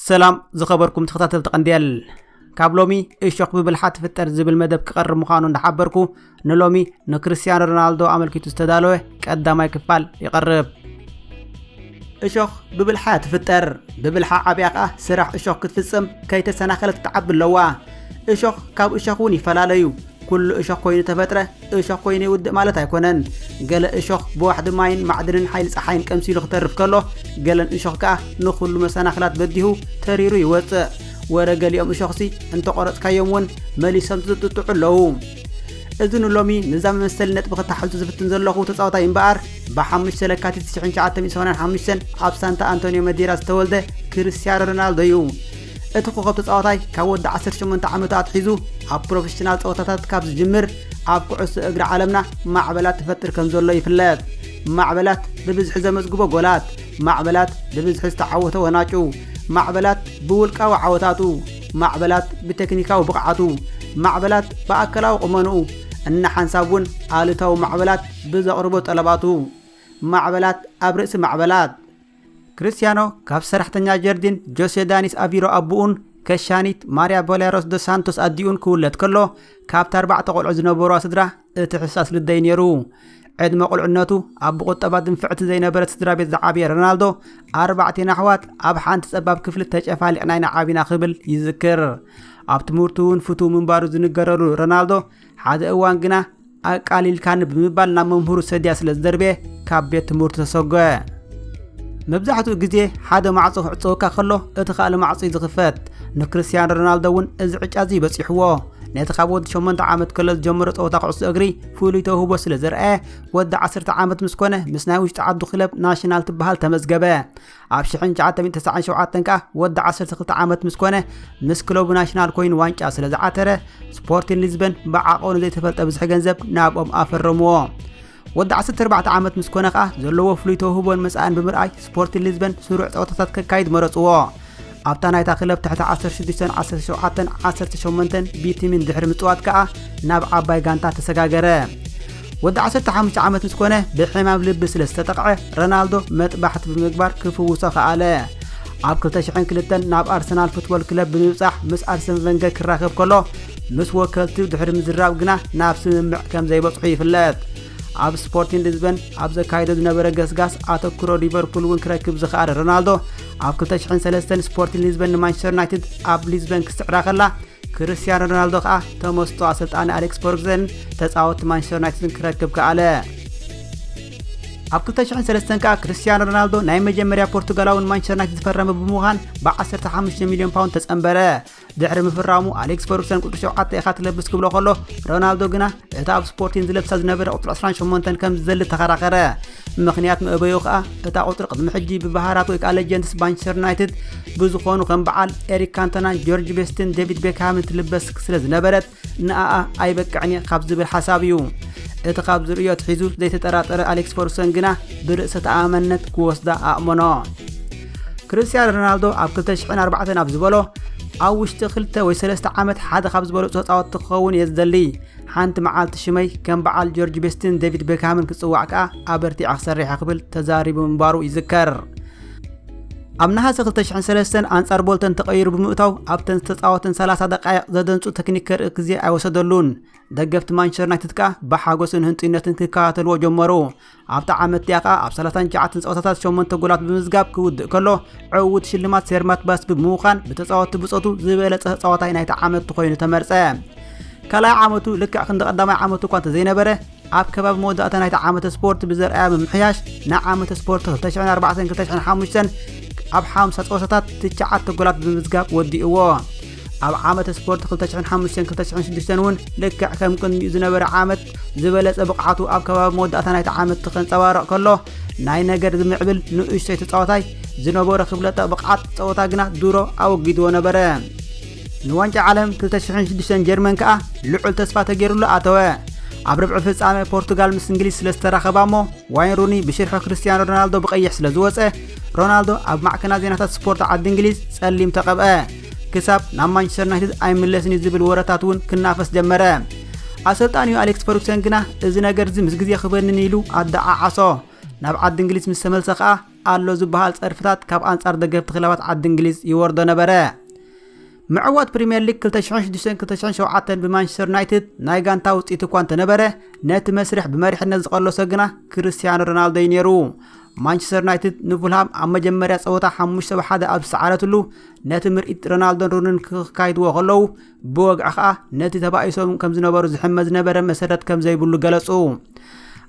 ሰላም ዝኸበርኩም ተኸታተልቲ ቀንዲየል ካብ ሎሚ እሾክ ብብልሓ ትፍጠር ዝብል መደብ ክቐርብ ምዃኑ እንዳሓበርኩ ንሎሚ ንክርስትያኖ ሮናልዶ ኣመልኪቱ ዝተዳለወ ቀዳማይ ክፋል ይቐርብ እሾኽ ብብልሓ ትፍጠር ብብልሓ ዓብያ ከኣ ስራሕ እሾኽ ክትፍጽም ከይተሰናኸለት ትዓቢ ኣለዋ እሾኽ ካብ እሾኽ እውን ይፈላለዩ ኩሉ እሾኽ ኮይኑ ተፈጥረ እሾኽ ኮይኑ ይውድእ ማለት ኣይኮነን ገለ እሾኽ ብዋሕዲ ማይን ማዕድንን ሓይሊ ፀሓይን ቀምሲሉ ክተርፍ ከሎ ገለን እሾኽ ከኣ ንኹሉ መሰናኽላት በዲሁ ተሪሩ ይወፅእ ወረ ገሊኦም እሾኽሲ እንተቆረፅካዮም እውን መሊሶም ዝጥጥዑ ኣለዉ እዚ ንሎሚ ንዛ መመሰሊ ነጥቢ ክታሓዙ ዝፍትን ዘለኹ ተፃዋታይ እምበኣር ብሓሙሽተ ለካቲት 1985 ኣብ ሳንታ ኣንቶኒዮ መዴራ ዝተወልደ ክርስቲያኖ ሮናልዶ እዩ እቲ ኮኸብ ተፃዋታይ ካብ ወዲ 18 ዓመቱ ኣትሒዙ ኣብ ፕሮፌሽናል ፀወታታት ካብ ዝጅምር ኣብ ኩዕሶ እግሪ ዓለምና ማዕበላት ትፈጥር ከም ዘሎ ይፍለጥ ማዕበላት ብብዝሒ ዘመዝግቦ ጎላት ማዕበላት ብብዝሒ ዝተዓወተ ወናጩ ማዕበላት ብውልቃዊ ዓወታቱ ማዕበላት ብቴክኒካዊ ብቕዓቱ ማዕበላት ብኣካላዊ ቁመንኡ እና ሓንሳብ እውን ኣሉታዊ ማዕበላት ብዘቕርቦ ጠለባቱ ማዕበላት ኣብ ርእሲ ማዕበላት። ክርስትያኖ ካብ ሰራሕተኛ ጀርዲን ጆሴ ዳኒስ ኣቪሮ ኣቡኡን ከሻኒት ማርያ ቦሌሮስ ዶ ሳንቶስ ኣዲኡን ክውለድ ከሎ ካብቲ ኣርባዕተ ቆልዑ ዝነበሩዋ ስድራ እቲ ሕሳስ ልደይ ነይሩ። ዕድመ ቁልዕነቱ ኣብ ብቁጠባ ድንፍዕቲ ዘይነበረት ስድራ ቤት ዝዓበየ ረናልዶ ኣርባዕቴና ኣሕዋት ኣብ ሓንቲ ጸባብ ክፍሊ ተጨፋሊቕና ኢና ዓቢና ክብል ይዝክር። ኣብ ትምህርቱ እውን ፍቱው ምንባሩ ዝንገረሉ ረናልዶ ሓደ እዋን ግና ኣቃሊልካኒ ብምባል ናብ መምህሩ ሰድያ ስለ ዝደርበየ ካብ ቤት ትምህርቱ ተሰጎ መብዛሕትኡ ግዜ ሓደ ማዕጾ ክዕጸወካ ከሎ እቲ ካልእ ማዕጾ እዩ ዝኽፈት ንክርስትያን ሮናልዶ እውን እዚ ዕጫ እዚ በፂሕዎ ነቲ ካብ ወዲ 8 ዓመት ከሎ ዝጀመሮ ፀወታ ኩዕሶ እግሪ ፍሉይ ተውህቦ ስለ ዘርኣየ ወዲ 10 ዓመት ምስ ኮነ ምስ ናይ ውሽጢ ዓዱ ክለብ ናሽናል ትበሃል ተመዝገበ ኣብ 1997 ከኣ ወዲ 12 ዓመት ምስ ኮነ ምስ ክለቡ ናሽናል ኮይኑ ዋንጫ ስለ ዝዓተረ ስፖርቲን ሊዝበን ብዓቐኑ ዘይተፈልጠ ብዝሒ ገንዘብ ናብኦም ኣፈረምዎ ወዲ 14 ዓመት ምስ ኮነ ከኣ ዘለዎ ፍሉይ ተውህቦን መጻእን ብምርኣይ ስፖርቲን ሊዝበን ስሩዕ ጸወታታት ከካይድ መረጽዎ ኣብታ ናይታ ክለብ ትሕቲ 16 17 18 ቢቲሚን ድሕሪ ምፅዋት ከዓ ናብ ዓባይ ጋንታ ተሰጋገረ ወዲ 15 ዓመት ምስ ኮነ ብሕማም ልቢ ስለ ዝተጠቕዐ ረናልዶ መጥባሕቲ ብምግባር ክፍውሶ ከኣለ ኣብ 2002 ናብ ኣርሰናል ፉትቦል ክለብ ብምብፃሕ ምስ ኣርሰን ቨንገር ክራኸብ ከሎ ምስ ወከልቲ ድሕሪ ምዝራብ ግና ናብ ስምምዕ ከም ዘይበፅሑ ይፍለጥ ኣብ ስፖርቲን ሊዝበን ኣብ ዘካይዶ ዝነበረ ገስጋስ ኣተክሮ ሊቨርፑል እውን ክረክብ ዝኸኣለ ሮናልዶ ኣብ 2003 ስፖርቲንግ ሊዝበን ንማንቸስተር ዩናይትድ ኣብ ሊዝበን ክስዕራ ከላ ክርስቲያኖ ሮናልዶ ከኣ ተመስጦ ኣሰልጣኒ ኣሌክስ ፎርግዘን ተጻወትቲ ማንቸስተር ዩናይትድን ክረክብ ከኣለ ኣብ 2003 ከኣ ክርስቲያኖ ሮናልዶ ናይ መጀመርያ ፖርቱጋላዊ ንማንቸስተር ዩናይትድ ዝፈረመ ብምዃን ብ15 ሚልዮን ፓውንድ ተጸንበረ ድሕሪ ምፍራሙ ኣሌክስ ፈርጉሰን ቁፅሪ ሸውዓተ ኢኻ ትለብስ ክብሎ ከሎ ሮናልዶ ግና እቲ ኣብ ስፖርቲን ዝለብሳ ዝነበረ ቁፅሪ 28 ከም ዝዘሊ ተኸራኸረ ምክንያት መእበዩ ከዓ እታ ቁፅሪ ቅድሚ ሕጂ ብባህራት ወይ ከዓ ሌጀንድስ ማንቸስተር ዩናይትድ ብዝኾኑ ከም በዓል ኤሪክ ካንተናን ጆርጅ ቤስትን ዴቪድ ቤክሃምን ትልበስ ስለ ዝነበረት ንኣኣ ኣይበቅዕን እየ ካብ ዝብል ሓሳብ እዩ እቲ ካብ ዝርእዮ ኣትሒዙ ዘይተጠራጠረ ኣሌክስ ፈርጉሰን ግና ብርእሰ ተኣማመነት ክወስዳ ኣእመኖ ክርስትያን ሮናልዶ ኣብ 204 ኣብ ዝበሎ ኣብ ውሽጢ ክልተ ወይ ሰለስተ ዓመት ሓደ ካብ ዝበለፁ ተፃወትቲ ክኸውን እየ ዝደሊ ሓንቲ መዓልቲ ሽመይ ከም በዓል ጆርጅ ቤስትን ዴቪድ ቤክሃምን ክፅዋዕ ከኣ ኣበርቲዐ ክሰርሐ ክብል ተዛሪቡ ምንባሩ ይዝከር ኣብ ነሃሰ 2003 ኣንጻር ቦልተን ተቐይሩ ብምእታው ኣብተን ዝተፃወተን 30 ደቃይቕ ዘደንጹ ተክኒክ ከርኢ ግዜ ኣይወሰደሉን። ደገፍቲ ማንቸስተር ዩናይትድ ከኣ ብሓጎስን ህንጡይነትን ክከታተልዎ ጀመሩ። ኣብቲ ዓመት እቲኣ ከኣ ኣብ 39 ፀወታታት 8 ጎላት ብምዝጋብ ክውድእ ከሎ ዕውት ሽልማት ሴርማት ባስ ብምዃን ብተፃወቲ ብፆቱ ዝበለፀ ተፃዋታይ ናይቲ ዓመት ኮይኑ ተመርፀ። ካልኣይ ዓመቱ ልክዕ ክንዲ ቀዳማይ ዓመቱ እኳ እንተዘይነበረ ኣብ ከባቢ መወዳእታ ናይቲ ዓመተ ስፖርት ብዘርኣያ ምምሕያሽ ንዓመተ ስፖርት 2004-2005 ኣብ ሓምሳ ፀወታታት ትሽዓተ ጎላት ብምምዝጋብ ወዲእዎ ኣብ ዓመተ ስፖርት 2005-2006 እውን ልክዕ ከም ቅድሚኡ ዝነበረ ዓመት ዝበለፀ ብቕዓቱ ኣብ ከባቢ መወዳእታ ናይቲ ዓመት ከንፀባረቕ ከሎ ናይ ነገር ዝምዕብል ንእሽቶይ ተፃዋታይ ዝነበሮ ክፍለጠ ብቕዓት ፀወታ ግና ድሮ ኣወጊድዎ ነበረ ንዋንጫ ዓለም 2006 ጀርመን ከኣ ልዑል ተስፋ ተገይሩሉ ኣተወ ኣብ ርብዒ ፍጻመ ፖርቱጋል ምስ እንግሊዝ ስለ ዝተራኸባ እሞ ዋይን ሩኒ ብሽርሒ ክርስትያኖ ሮናልዶ ብቐይሕ ስለ ዝወፀ ሮናልዶ ኣብ ማዕከና ዜናታት ስፖርት ዓዲ እንግሊዝ ጸሊም ተቐብአ ክሳብ ናብ ማንቸስተር ዩናይትድ ኣይምለስን እዩ ዝብል ወረታት እውን ክናፈስ ጀመረ ኣሰልጣኒኡ ኣሌክስ ፈርጉሰን ግና እዚ ነገር እዚ ምስ ግዜ ክበንን ኢሉ ኣደዓዓሶ ናብ ዓዲ እንግሊዝ ምስ ተመልሰ ከኣ ኣሎ ዝበሃል ጸርፍታት ካብ ኣንጻር ደገፍቲ ክለባት ዓዲ እንግሊዝ ይወርዶ ነበረ። ምዕዋት ፕሪምየር ሊግ 2006-2007 ብማንቸስተር ዩናይትድ ናይ ጋንታ ውፅኢት እኳ እንተነበረ ነቲ መስርሕ ብመሪሕነት ዝቐለሶ ግና ክርስቲያኖ ሮናልዶ እዩ ነይሩ ማንቸስተር ዩናይትድ ንፉልሃም ኣብ መጀመርያ ፀወታ 5 ብ1 ኣብ ዝሰዓረትሉ ነቲ ምርኢት ሮናልዶን ሩንን ክካይድዎ ከለዉ ብወግዒ ከኣ ነቲ ተባኢሶም ከም ዝነበሩ ዝሕመ ዝነበረ መሰረት ከም ዘይብሉ ገለጹ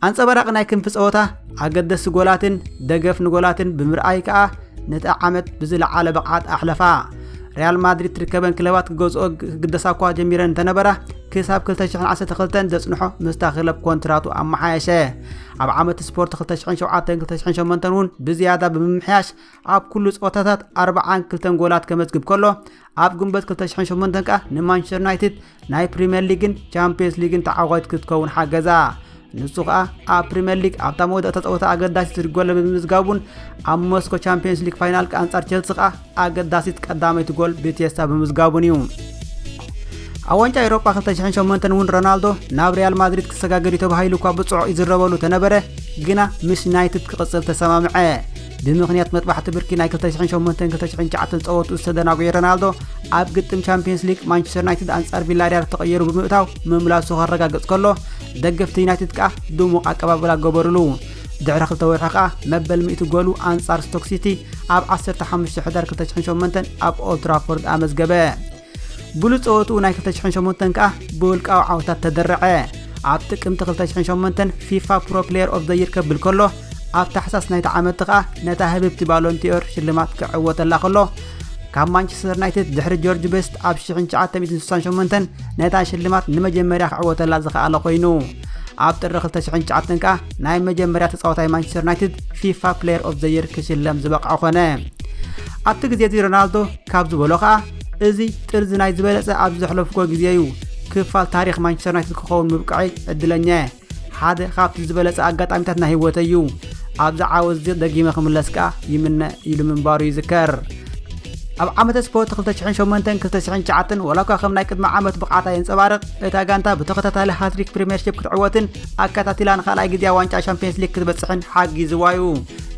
ኣንጸባራቂ ናይ ክንፊ ጸወታ ኣገደስቲ ጎላትን ደገፍ ንጎላትን ብምርኣይ ከኣ ነቲ ዓመት ብዝለዓለ ብቕዓት ኣሕለፋ ሪያል ማድሪድ ትርከበን ክለባት ክገዝኦ ክግደሳ እኳ ጀሚረን እንተነበራ ክሳብ 212 ዘጽንሖ ምስታ ክለብ ኮንትራቱ ኣመሓየሸ ኣብ ዓመት ስፖርት 27208 እውን ብዝያዳ ብምምሕያሽ ኣብ ኩሉ ጸወታታት 42 ጎላት ከመዝግብ ከሎ ኣብ ግንቦት 2008 ከኣ ንማንቸስተር ዩናይትድ ናይ ፕሪምየር ሊግን ቻምፒየንስ ሊግን ተዓዋቲት ክትከውን ሓገዛ ንሱ ከኣ ኣብ ፕሪምየር ሊግ ኣብታ መወዳእታ ጸወታ ኣገዳሲት ጎል ብምምዝጋቡን ኣብ ሞስኮ ቻምፒየንስ ሊግ ፋይናል ኣንጻር ቸልሲ ከኣ ኣገዳሲት ቀዳመይቲ ጎል ብቴስታ ብምዝጋቡን እዩ ኣብ ዋንጫ ኤሮጳ 2008 እውን ሮናልዶ ናብ ሪያል ማድሪድ ክሰጋገር እዩ ተባሂሉ እኳ ብጽዑቕ ይዝረበሉ ተነበረ ግና ምስ ዩናይትድ ክቕጽል ተሰማምዐ ብምኽንያት መጥባሕቲ ብርኪ ናይ 2008-2009 ፀወቱ ዝተደናጎየ ረናልዶ ኣብ ግጥም ቻምፒየንስ ሊግ ማንቸስተር ዩናይትድ ኣንጻር ቪላሪያል ተቐየሩ ብምእታው ምምላሱ ከረጋግፅ ከሎ ደገፍቲ ዩናይትድ ከዓ ድሙቕ ኣቀባብላ ገበሩሉ ድሕሪ ክልተ ወርሒ ከዓ መበል ሚእቲ ጎሉ ኣንጻር ስቶክ ሲቲ ኣብ 15 ሕዳር 2008 ኣብ ኦልትራፎርድ ኣመዝገበ ብሉፅ ፀወትኡ ናይ 2008 ከኣ ብውልቃዊ ዓወታት ተደረዐ። ኣብ ጥቅምቲ 2008 ፊፋ ፕሮ ፕሌየር ኦፍ ዘይር ከብል ከሎ ኣብ ታሕሳስ ናይቲ ዓመት ከኣ ነታ ህብብቲ ባሎንቲዮር ሽልማት ክዕወተላ ከሎ ካብ ማንቸስተር ዩናይትድ ድሕሪ ጆርጅ ቤስት ኣብ 1968 ነታ ሽልማት ንመጀመርያ ክዕወተላ ዝኸኣለ ኮይኑ ኣብ ጥሪ 2009 ከኣ ናይ መጀመርያ ተፃዋታይ ማንቸስተር ዩናይትድ ፊፋ ፕሌየር ኦፍ ዘይር ክሽለም ዝበቕዐ ኮነ ኣብቲ ግዜ እዚ ሮናልዶ ካብ ዝበሎ ከኣ እዚ ጥርዚ ናይ ዝበለጸ ኣብ ዘሕለፍኩዎ ግዜ እዩ ክፋል ታሪኽ ማንቸስተር ዩናይትድ ክኸውን ምብቅዐይ ዕድለኛ እየ ሓደ ካብቲ ዝበለጸ ኣጋጣሚታት ናይ ህይወተይ እዩ ኣብዚ ዓወት እዚ ደጊመ ክምለስ ከኣ ይምነ ኢሉ ምንባሩ ይዝከር ኣብ ዓመተ ስፖርት 2008-2009 ወላ እኳ ከም ናይ ቅድሚ ዓመት ብቕዓታ የንጸባርቕ እታ ጋንታ ብተኸታታሊ ሃትሪክ ፕሪምየርሺፕ ክትዕወትን ኣከታቲላ ንካልኣይ ግዜ ዋንጫ ሻምፒየንስ ሊግ ክትበጽሕን ሓጊዝዋ እዩ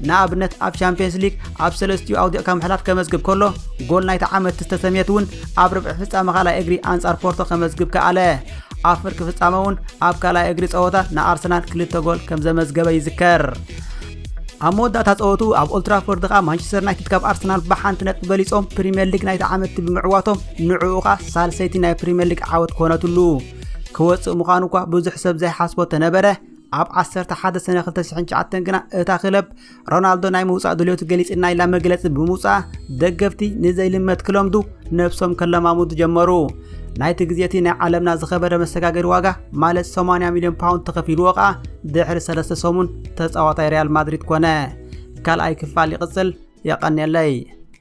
ንኣብነት ኣብ ሻምፒየንስ ሊግ ኣብ ሰለስቲኡ ኣውዲቕካ ምሕላፍ ከመዝግብ ከሎ ጎል ናይቲ ዓመት ዝተሰምየት እውን ኣብ ርብዒ ፍጻመ ካልኣይ እግሪ ኣንጻር ፖርቶ ከመዝግብ ከኣለ ኣብ ፍርቂ ፍጻመ እውን ኣብ ካልኣይ እግሪ ጸወታ ንኣርሰናል ክልተ ጎል ከም ዘመዝገበ ይዝከር ኣብ መወዳእታ ጸወቱ ኣብ ኦልትራፎርድ ከኣ ማንቸስተር ዩናይትድ ካብ ኣርሰናል ብሓንቲ ነጥቢ በሊጾም ፕሪምየር ሊግ ናይቲ ዓመት ብምዕዋቶም ንዕኡ ከኣ ሳልሰይቲ ናይ ፕሪምየር ሊግ ዓወት ኮነትሉ ክወጽእ ምዃኑ እኳ ብዙሕ ሰብ ዘይሓስቦ ተነበረ ኣብ 11 ሰነ 2009 ግና እታ ክለብ ሮናልዶ ናይ ምውፃእ ድልዮቱ ገሊፅና ኢላ መግለፂ ብምውፅኣ ደገፍቲ ንዘይልመት ክለምዱ ነብሶም ከለማሙዱ ጀመሩ ናይቲ ግዜ እቲ ናይ ዓለምና ዝኸበረ መሰጋገሪ ዋጋ ማለት 80 ሚልዮን ፓውንድ ተኸፊልዎ ከኣ ድሕሪ ሰለስተ ሰሙን ተፃዋታይ ሪያል ማድሪድ ኮነ ካልኣይ ክፋል ይቕፅል የቐንየለይ